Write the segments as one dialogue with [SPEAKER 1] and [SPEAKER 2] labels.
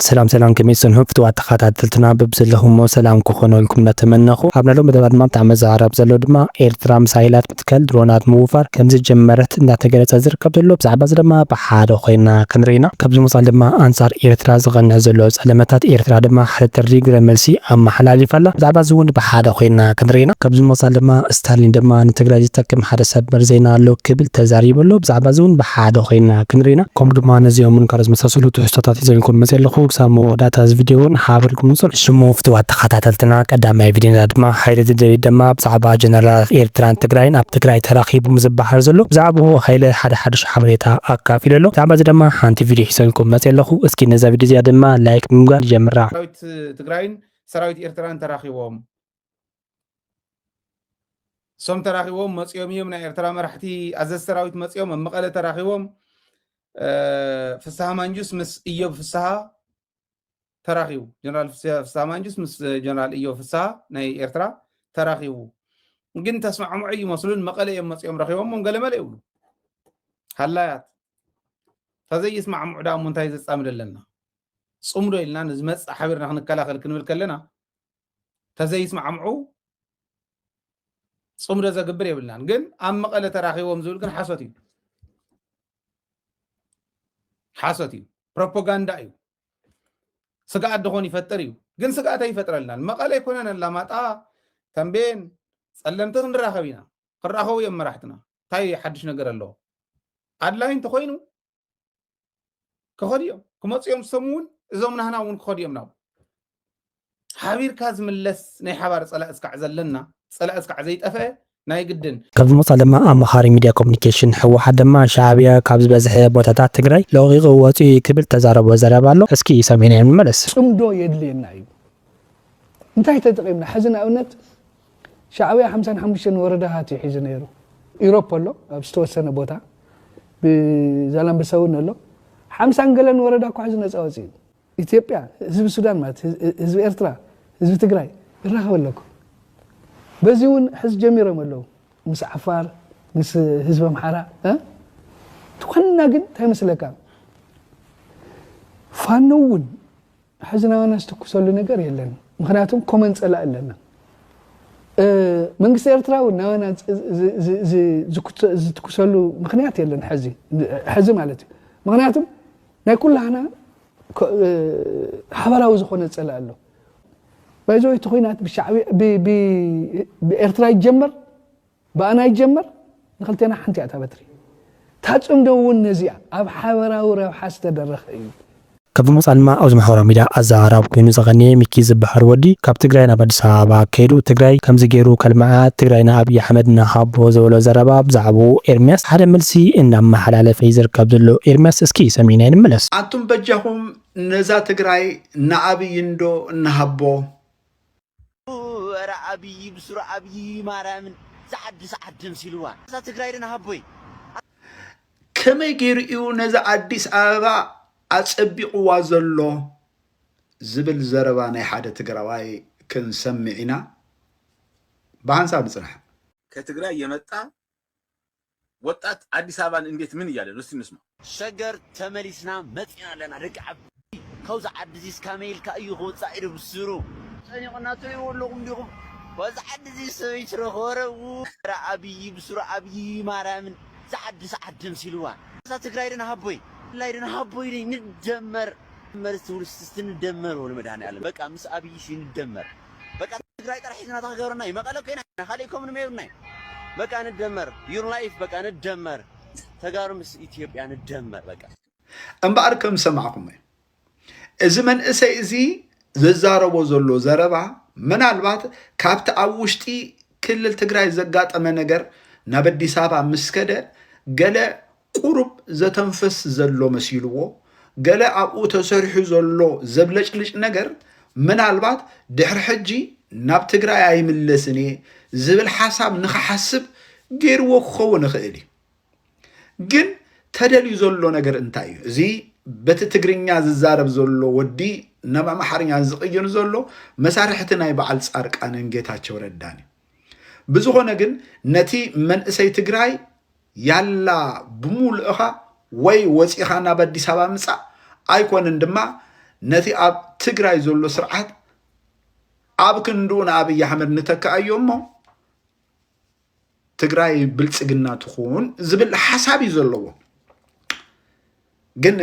[SPEAKER 1] ሰላም ሰላም ከመይ ትሰንሑ ፍትዋት ተኻታተልትና በብዘለኹሞ ሰላም ክኾነልኩም እንዳተመነኹ ኣብ ናይሎም መደባት ድማ ብጣዕሚ ዝዕረብ ዘሎ ድማ ኤርትራ ምሳይላት ምትካል ድሮናት ምውፋር ከምዝጀመረት እንዳተገለጸ ዝርከብ ዘሎ ብዛዕባ እዚ ድማ ብሓደ ኮይና ክንርኢ ኢና ካብዚ ወጻኢ ድማ ኣንጻር ኤርትራ ዝቐንዕ ዘሎ ጸለመታት ኤርትራ ድማ ሓደ ጥሪ ግብረመልሲ ኣመሓላሊፋ ኣላ ብዛዕባ እዚ ውን ብሓደ ኮይና ክንርኢ ኢና ካብዚ ወጻኢ ድማ እስታሊን ድማ ንትግራይ ዝጠቅም ሓደ ሰበር ዜና ኣሎ ክብል ተዛሪቡ ኣሎ ብዛዕባ እዚ ውን ብሓደ ኮይና ክንርኢ ኢና። ከምኡ ድማ ነዚኦምን ካልኦት ዝመሳሰሉ ትሕዝቶታት ሒዘልኩም መጺኤ ኣለኹ። ክሳብ መወዳእታ እዚ ቪድዮ ውን ሓብ ኢልኩም ንጹር። ሽሙ ፍትዋት ተኻታተልትና ቀዳማይ ቪድዮና ድማ ሃይለ ደደቢት ደማ ብዛዕባ ጀነራላት ኤርትራን ትግራይን ኣብ ትግራይ ተራኺቡ ዝባሃል ዘሎ ብዛዕብኡ ሃይለ ሓደ ሓዱሽ ሓበሬታ ኣካፊሉ ኣሎ ብዛዕባ እዚ ደማ ሓንቲ ቪድዮ ሒዘልኩም መጺኤ ኣለኹ እስኪ ነዛ ቪድዮ እዚኣ ደማ ላይክ ብምግባር ንጀምራ። ሰራዊት ትግራይን
[SPEAKER 2] ሰራዊት ኤርትራን ተራኺቦም። እሶም ተራኺቦም መፂኦም እዮም ናይ ኤርትራ መራሕቲ ኣዘዝ ሰራዊት መፂኦም ኣብ መቐለ ተራኺቦም ፍስሃ ማንጁስ ምስ እዮብ ፍስሃ ተራኺቡ ጀነራል ፍስሃ ማንጁስ ምስ ጀነራል እዮብ ፍስሃ ናይ ኤርትራ ተራኺቡ ግን ተስማዕምዑ ይመስሉን መቐለ እዮም መፂኦም ረኺቦሞም ገለመለ ይብሉ ሃላያት ተዘይስማዕምዑ ዳሞ እንታይ ዘፃምድ ኣለና ፅምዶ ኢልና ንዝመፅእ ሓቢርና ክንከላኸል ክንብል ከለና ተዘይስማዕምዑ ፅምዶ ዘግብር የብልናን ግን ኣብ መቐለ ተራኺቦም ዝብል ግን ሓሶት እዩ ሓሶት እዩ ፕሮፓጋንዳ እዩ ስግኣት ድኾን ይፈጥር እዩ ግን ስግኣት ኣይፈጥረልናን መቐለ ኣይኮነን ኣላማጣ ተንቤን ፀለምቲ ክንራኸብ ኢና ክራኸቡ እዮም መራሕትና እንታይ ሓድሽ ነገር ኣለዎ ኣድላይ እንተኮይኑ ክኸዱ እዮም ክመፁ እዮም ሰሙ እውን እዞም ናህና እውን ክኸዱ እዮም ናብ ሓቢርካ ዝምለስ ናይ ሓባር ፀላእ እስካዕ ዘለና ፀላእ እስካዕ ዘይጠፍአ ናይ ግድን ካብ ዝመፃ ድማ
[SPEAKER 1] ኣማኻሪ ሚድያ ኮሚኒኬሽን ህወሓት ድማ ሻዕብያ ካብ ዝበዝሐ ቦታታት ትግራይ ለቒቑ ወፂኡ እዩ ክብል ተዛረቦ ዘረባ ኣሎ እስኪ ሰሚዕናዮ ንመለስ። ፅምዶ የድልየና
[SPEAKER 3] እዩ እንታይ ተጠቒምና ሕዚ ንኣብነት ሻዕብያ ሓምሳን ሓሙሽተን ወረዳታት እዩ ሒዙ ነይሩ። ኢሮፕ ኣሎ ኣብ ዝተወሰነ ቦታ ብዛላምበሳ እውን ኣሎ ሓምሳን ገለን ወረዳ እኳ ሕዚ ነፃ ወፂኡ ኢትዮጵያ ህዝቢ ሱዳን ማለት ህዝቢ ኤርትራ ህዝቢ ትግራይ ይራኸብ ኣለኩ በዚ እውን ሕዚ ጀሚሮም ኣለዉ ምስ ዓፋር ምስ ህዝቢ ኣምሓራ ትኾንና ግን እንታይ መስለካ ፋኖ እውን ሕዝናና ዝትኩሰሉ ነገር የለን ምክንያቱም ኮመን ፀላኢ ኣለና መንግስቲ ኤርትራ እውን ናባና ዝትኩሰሉ ምክንያት የለን ሕዚ ሕዚ ማለት እዩ ምክንያቱም ናይ ኩላህና ሓበራዊ ዝኾነ ፀላኢ ኣሎ ባይዘወይ እቲ ኩናት ብሻዕቢ ብኤርትራ ይጀመር ብኣና ይጀመር ንክልቴና ሓንቲ እያ እታ በትሪ። እታ ጽምዶ እውን ነዚኣ ኣብ ሓበራዊ ረብሓ ዝተደረኸ እዩ። ካብ ዝመጽኣ
[SPEAKER 1] ድማ ኣብዚ ማሕበራዊ ሚድያ ኣዘራራቢ ኮይኑ ዘቐንየ ሚኪ ዝበሃል ወዲ ካብ ትግራይ ናብ ኣዲስ ኣበባ ከይዱ ትግራይ ከምዚ ገይሩ ከልምዓ ትግራይ ንኣብይ ኣሕመድ ንሃቦ ዝበሎ ዘረባ ብዛዕብኡ ኤርሚያስ ሓደ መልሲ እናመሓላለፈ እዩ ዝርከብ ዘሎ ኤርሚያስ እስኪ ሰሚዕናዮ ንመለስ። ኣቱም በጃኹም
[SPEAKER 4] ነዛ ትግራይ ንኣብይ እንዶ እንሃቦ። እረ
[SPEAKER 5] ኣብይ ብስሩ ኣብይ ማርያምን ዝሓድስ ዓዲ ምሲልዋ እዛ ትግራይ ድን ሃቦይ።
[SPEAKER 4] ከመይ ገይሩ እዩ ነዚ ኣዲስ ኣበባ ኣጸቢቕዋ ዘሎ ዝብል ዘረባ ናይ ሓደ ትግራዋይ ክንሰምዕ ኢና። ብሃንሳብ ንጽናሕ። ከትግራይ
[SPEAKER 6] የመጣ ወጣት ኣዲስ ኣበባን እንዴት ምን እያለ ነው እስቲ እንስማው። ሸገር
[SPEAKER 5] ተመሊስና መጺና ኣለና ደቂ ዓቢ ካብዛ ዓዲ እዚስ ካመይ ኢልካ እዩ ክውጻእ ኢልኩም ሱሩ ጸኒቁና ትሪእዎ ኣለኹም ዲኹም ካብዛ ዓዲ እዚስ ሰበይ ትረኽቦ ኧረ ዉራ ኣብይ ብሱሩ ኣብይ ማርያምን እዛ ዓዲ ሰዓት ደምሲልዋ እዛ ትግራይ ድና ሃቦይ ላይ ድና ሃቦይ ደይ ንደመር መርስ ትውልስ እስቲ ንደመር ወልመድሃኒ ኣለም በቃ ምስ ኣብይ ሲ ንደመር በቃ ትግራይ ጥራሕ ሒዝና ተክገብረና እዩ መቀለ ኮይና ኢና ካሊእ ኮምንሞ የብልና እዩ በቃ ንደመር ዩር ላይፍ በቃ ንደመር ተጋሩ ምስ ኢትዮጵያ ንደመር በቃ እምበኣር ከም
[SPEAKER 4] ዝሰማዕኹሞ እዚ መንእሰይ እዚ ዘዛረቦ ዘሎ ዘረባ ምናልባት ካብቲ ኣብ ውሽጢ ክልል ትግራይ ዘጋጠመ ነገር ናብ ኣዲስ ኣበባ ምስ ከደ ገለ ቁሩብ ዘተንፍስ ዘሎ መሲልዎ፣ ገለ ኣብኡ ተሰሪሑ ዘሎ ዘብለጭልጭ ነገር ምናልባት ድሕሪ ሕጂ ናብ ትግራይ ኣይምለስን እየ ዝብል ሓሳብ ንኽሓስብ ገይርዎ ክኸውን ይኽእል እዩ። ግን ተደልዩ ዘሎ ነገር እንታይ እዩ? እዚ በቲ ትግርኛ ዝዛረብ ዘሎ ወዲ ናብ ኣምሓርኛ ዝቕይር ዘሎ መሳርሕቲ ናይ በዓል ጻርቃንን ጌታቸው ረዳን እዩ። ብዝኾነ ግን ነቲ መንእሰይ ትግራይ ያላ ብሙሉእኻ ወይ ወፂኻ ናብ ኣዲስ ኣበባ ምፃእ ኣይኮነን ድማ ነቲ ኣብ ትግራይ ዘሎ ስርዓት ኣብ ክንድኡ ንኣብይ ኣሕመድ ንተክኣዮ እሞ ትግራይ ብልፅግና ትኹን ዝብል ሓሳብ እዩ ዘለዎ ግን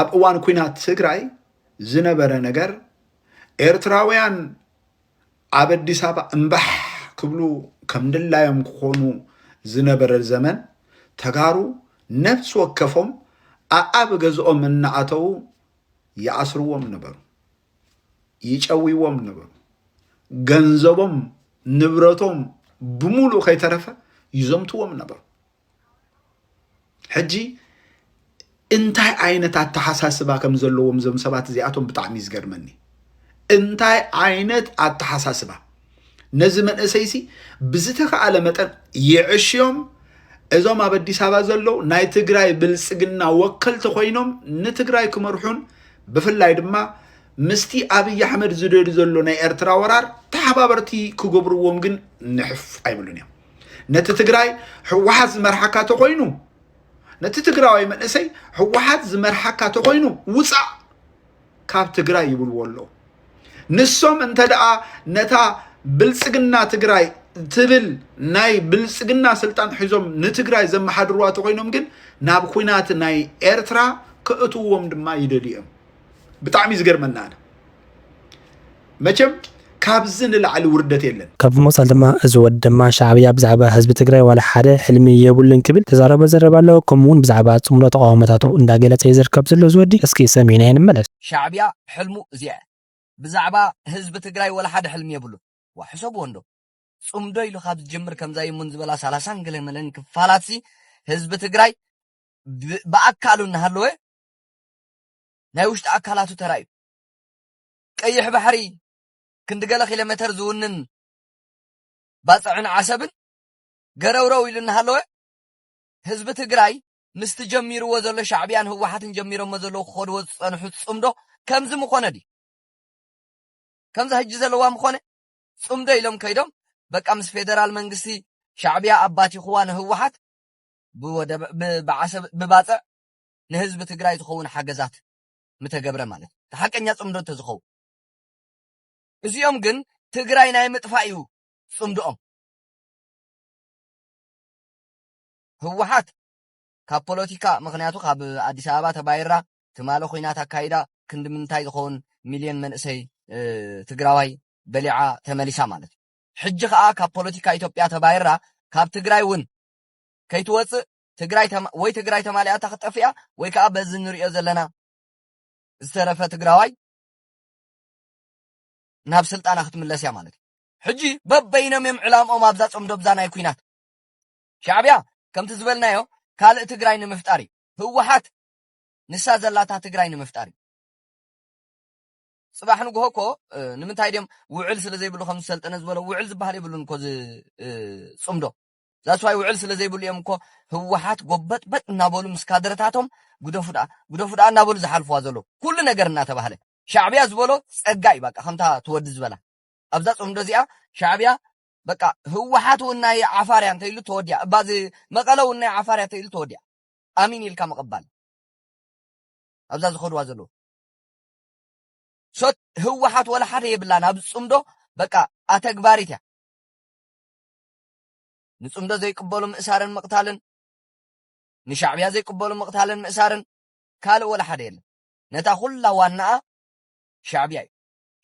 [SPEAKER 4] ኣብ እዋን ኩናት ትግራይ ዝነበረ ነገር ኤርትራውያን ኣብ ኣዲስ ኣበባ እምባሕ ክብሉ ከም ድላዮም ክኾኑ ዝነበረ ዘመን ተጋሩ ነብሲ ወከፎም ኣኣብ ገዝኦም እናኣተዉ ይኣስርዎም ነበሩ፣ ይጨውይዎም ነበሩ። ገንዘቦም ንብረቶም ብምሉእ ከይተረፈ ይዘምትዎም ነበሩ። ሕጂ እንታይ ዓይነት ኣተሓሳስባ ከም ዘለዎም እዞም ሰባት እዚኣቶም ብጣዕሚ እዩ ዝገርመኒ እንታይ ዓይነት ኣተሓሳስባ ነዚ መንእሰይሲ ብዝተኸኣለ መጠን ይዕሽዮም እዞም ኣብ ኣዲስ ኣበባ ዘለዉ ናይ ትግራይ ብልፅግና ወከልቲ ኮይኖም ንትግራይ ክመርሑን ብፍላይ ድማ ምስቲ ኣብይ ኣሕመድ ዝደዱ ዘሎ ናይ ኤርትራ ወራር ተሓባበርቲ ክገብርዎም ግን ንሕፍ ኣይብሉን እዮም ነቲ ትግራይ ህወሓት ዝመርሓካ ተኮይኑ ነቲ ትግራዋይ መንእሰይ ህወሓት ዝመርሓካ ተኮይኑ ውፃእ ካብ ትግራይ ይብልዎ ኣለዉ ንሶም እንተ ደኣ ነታ ብልፅግና ትግራይ ትብል ናይ ብልፅግና ስልጣን ሒዞም ንትግራይ ዘመሓድርዋ ተኮይኖም ግን ናብ ኩናት ናይ ኤርትራ ክእትዎም ድማ ይደልዩ እዮም ብጣዕሚ እዩ ዝገርመና ኣነ መቸም ካብዚ ንላዕሊ ውርደት የለን። ካብ ብምቕጻል ድማ እዚ
[SPEAKER 1] ወዲ ድማ ሻዕብያ ብዛዕባ ህዝቢ ትግራይ ዋላ ሓደ ሕልሚ የብሉን ክብል ዝተዛረቦ ዘረባ ኣሎ ከምኡ ውን ብዛዕባ ጽምዶ ተቓውሞታቱ እንዳገለጸ እዩ ዝርከብ ዘሎ እዚ ወዲ እስኪ ሰሚዕናዮ ንመለስ። ሻዕብያ ሕልሙ
[SPEAKER 7] እዚኣ እያ ብዛዕባ ህዝቢ ትግራይ ዋላ ሓደ ሕልሚ የብሉን ዋእ ሕሰብዎ እንዶ ጽምዶ ኢሉ ካብ ዝጅምር ከምዛ ይሙን ዝበላ ሰላሳን ገለመለን ክፋላትሲ ህዝቢ ትግራይ ብኣካሉ እናሃለወ ናይ ውሽጢ ኣካላቱ ተራእዩ። ቀይሕ ባሕሪ ክንዲ ገለ ኪሎሜተር ዝውንን ባጽዕን ዓሰብን ገረውረው ኢሉ እናሃለወ፣ ህዝቢ ትግራይ ምስቲ ጀሚርዎ ዘሎ ሻዕብያን ህወሓትን ጀሚሮሞ ዘለዉ ክኸድዎ ዝጸንሑ ጽምዶ ከምዚ ምኾነ ድዩ? ከምዛ ሕጂ ዘለዋ ምኾነ ጽምዶ ኢሎም ከይዶም በቃ ምስ ፌደራል መንግስቲ ሻዕብያ ኣባቲኹዋ ንህወሓት ብወደብ ብዓሰብ ብባጽዕ ንህዝቢ ትግራይ ዝኸውን ሓገዛት ምተገብረ ማለት እዩ። እቲ ሓቀኛ ፅምዶ እንተዝኸውን። እዚኦም ግን ትግራይ ናይ ምጥፋእ እዩ ፅምድኦም። ህወሓት ካብ ፖለቲካ ምክንያቱ ካብ ኣዲስ ኣበባ ተባይራ ትማለ ኩናት ኣካይዳ ክንዲ ምንታይ ዝኸውን ሚልዮን መንእሰይ ትግራዋይ በሊዓ ተመሊሳ ማለት እዩ። ሕጂ ከዓ ካብ ፖለቲካ ኢትዮጵያ ተባይራ ካብ ትግራይ እውን ከይትወፅእ ትግራይ ወይ ትግራይ ተማሊኣ እታ ክጠፍእያ ወይ ከዓ በዚ ንሪኦ ዘለና ዝተረፈ ትግራዋይ ናብ ስልጣና ክትምለስ እያ ማለት እዩ ሕጂ በበይኖም እዮም ዕላምኦም ኣብዛ ፆምዶብዛ ናይ ኩናት ሻዕብያ ከምቲ ዝበልናዮ ካልእ ትግራይ ንምፍጣር እዩ ህወሓት ንሳ ዘላታ ትግራይ ንምፍጣር እዩ ፅባሕ ንግሆ እኮ ንምንታይ ድም ውዕል ስለ ዘይብሉ ከም ዝሰልጠነ ዝበሎ ውዕል ዝበሃል የብሉን እኮ ፅምዶ ዛስዋይ ውዕል ስለ ዘይብሉ እዮም እኮ ህወሓት ጎበጥበጥ እናበሉ ምስ ካድረታቶም ግደፉ ደኣ ግደፉ ደኣ እናበሉ ዝሓልፍዋ ዘለዉ ኩሉ ነገር እናተባህለ ሻዕብያ ዝበሎ ጸጋ እዩ በቃ ከምታ ትወዲ ዝበላ ኣብዛ ጽምዶ እዚኣ ሻዕብያ በቃ ህወሓት እውን ናይ ዓፋር እያ እንተኢሉ ተወዲያ እባ እዚ መቐለ እውን ናይ ዓፋር እያ እንተኢሉ ተወዲያ ኣሚን ኢልካ ምቕባል ኣብዛ ዝኸድዋ ዘለዉ ሶት ህወሓት ወላ ሓደ የብላን ኣብ ፅምዶ በቃ ኣተግባሪት እያ ንጽምዶ ዘይቅበሉ ምእሳርን ምቕታልን፣ ንሻዕብያ ዘይቅበሉ ምቕታልን ምእሳርን፣ ካልእ ወላ ሓደ የለን። ነታ ኩላ ዋናኣ ሻዕብያ እዩ።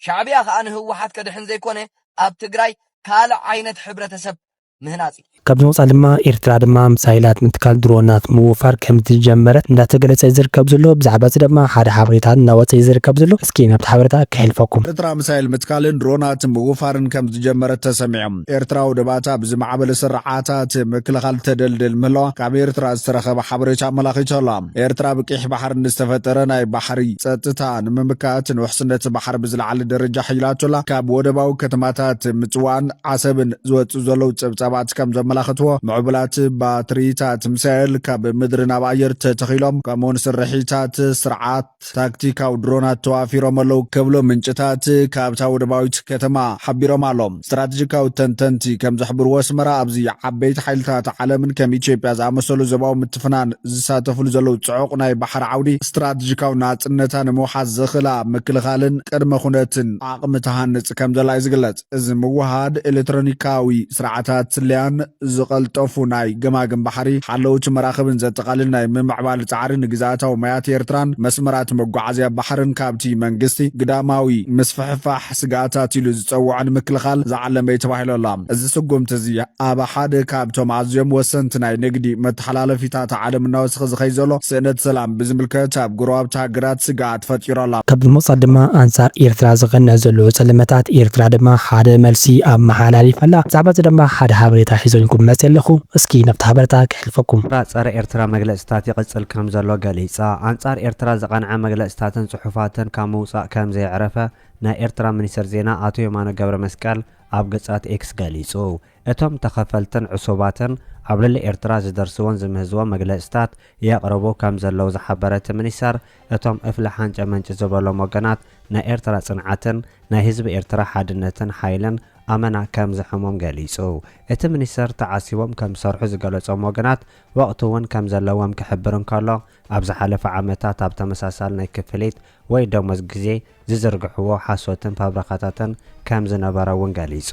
[SPEAKER 7] ሻዕብያ ከኣ ንህወሓት ከድሕን ዘይኮነ ኣብ ትግራይ ካልእ ዓይነት ሕብረተሰብ ምህናጽ እዩ። ካብዚ ወጻኢ ድማ
[SPEAKER 1] ኤርትራ ድማ ምሳይላት ምትካል ድሮናት ምውፋር ከምዝጀመረት እንዳተገለጸ እዩ ዝርከብ ዘሎ። ብዛዕባ እዚ ድማ ሓደ ሓበሬታ እንዳወጸ እዩ ዝርከብ ዘሎ። እስኪ ናብቲ ሓበሬታ ከሕልፈኩም። ኤርትራ ምሳይል ምትካልን
[SPEAKER 8] ድሮናት ምውፋርን ከምዝጀመረት ተሰሚዑ። ኤርትራ ወደባታ ብዝማዕበለ ስርዓታት ምክልኻል ተደልድል ምህላዋ ካብ ኤርትራ ዝተረኸበ ሓበሬታ ኣመላኺቱ ኣሎ። ኤርትራ ብ ቂሕ ባሕሪ ንዝተፈጠረ ናይ ባሕሪ ጸጥታ ንምምካት ን ውሕስነት ባሕሪ ብዝለዓለ ደረጃ ሐይላቶ ኣላ። ካብ ወደባዊ ከተማታት ምጽዋዕን ዓሰብን ዝወጽኡ ዘለዉ ጸብጻባት ከም ዘመላኽትዎ ምዕቡላት ባትሪታት ሚሳኤል ካብ ምድሪ ናብ ኣየር ተተኺሎም ከምኡ'ውን ስርሒታት ስርዓት ታክቲካዊ ድሮናት ተዋፊሮም ኣለው ከብሎ ምንጭታት ካብታ ወደባዊት ከተማ ሓቢሮም ኣሎም። ስትራቴጂካዊ ተንተንቲ ከም ዝሕብርዎ ኣስመራ ኣብዚ ዓበይቲ ሓይልታት ዓለምን ከም ኢትዮጵያ ዝኣመሰሉ ዘባዊ ምትፍናን ዝሳተፍሉ ዘለው ጽዑቕ ናይ ባሕሪ ዓውዲ ስትራቴጂካዊ ናጽነታ ንምውሓስ ዘኽእላ ምክልኻልን ቅድመ ኩነትን ዓቕሚ ትሃንጽ ከም ዘላ እዩ ዝግለጽ። እዚ ምውህሃድ ኤሌክትሮኒካዊ ስርዓታት ስለያን ዝቐልጠፉ ናይ ገማግም ባሕሪ ሓለውቲ መራኽብን ዘጠቓልል ናይ ምምዕባል ጻዕሪ ንግዝኣታዊ ማያት ኤርትራን መስመራት መጓዓዝያ ባሕርን ካብቲ መንግስቲ ግዳማዊ ምስፍሕፋሕ ስግኣታት ኢሉ ዝጸውዖ ንምክልኻል ዝዓለመ'ዩ ተባሂሉ ኣሎ። እዚ ስጉምቲ እዚ ኣብ ሓደ ካብቶም ኣዝዮም ወሰንቲ ናይ ንግዲ መተሓላለፊታት ዓለም እናወሰኸ ዝኸይድ ዘሎ ስእነት ሰላም ብዝምልከት ኣብ ጎረባብቲ ሃገራት ስግኣት ፈጢሩ ኣሎ። ካብ ብምቕጻል ድማ
[SPEAKER 1] ኣንጻር ኤርትራ ዝቐንዕ ዘሎ ጸለመታት ኤርትራ ድማ ሓደ መልሲ ኣመሓላሊፍ ኣላ። ብዛዕባ እዚ ደማ ሓደ ሃበሬታ ሒዘልኩም መጺኤ ኣለኹ። እስኪ ነብቲ ሃበረታ ከሕልፈኩም። ራ ጸረ ኤርትራ
[SPEAKER 9] መግለጺታት ይቕጽል ከም ዘሎ ገሊጻ። ኣንጻር ኤርትራ ዝቐንዐ መግለጺታትን ጽሑፋትን ካብ ምውጻእ ከም ዘየዕረፈ ናይ ኤርትራ ሚኒስተር ዜና ኣቶ የማነ ገብረመስቀል ኣብ ገጻት ኤክስ ገሊጹ። እቶም ተኸፈልትን ዕሱባትን ኣብ ልዕሊ ኤርትራ ዝደርስዎን ዝምህዝዎን መግለጺታት የቕርቡ ከም ዘለዉ ዝሓበረ እቲ ሚኒስተር፣ እቶም እፍሊ ሓንጨ መንጭ ዝበሎም ወገናት ናይ ኤርትራ ጽንዓትን ናይ ህዝቢ ኤርትራ ሓድነትን ሓይልን ኣመና ከም ዘሕሞም ገሊጹ። እቲ ሚኒስተር ተዓሲቦም ከም ዝሰርሑ ዝገለጾም ወገናት ወቕቲ እውን ከም ዘለዎም ክሕብር እንከሎ፣ ኣብ ዝሓለፈ ዓመታት ኣብ ተመሳሳሊ ናይ ክፍሊት ወይ ደሞዝ ግዜ ዝዝርግሕዎ ሓሶትን ፋብረኻታትን ከም ዝነበረ እውን ገሊጹ።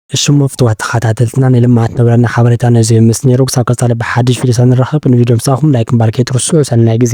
[SPEAKER 10] እሽሞ ፍትዋት
[SPEAKER 1] ተኻታተልትና ንልምዓት ነብረና ሓበሬታ ነዙይ ይምስጥ ነይሩ ክሳብ ቀፃሊ ብሓድሽ ቪድዮ ሳንራኸብ ንቪድዮ ምሳኹም ላይክ ምባል ከይትርስዑ ሰናይ ግዜ።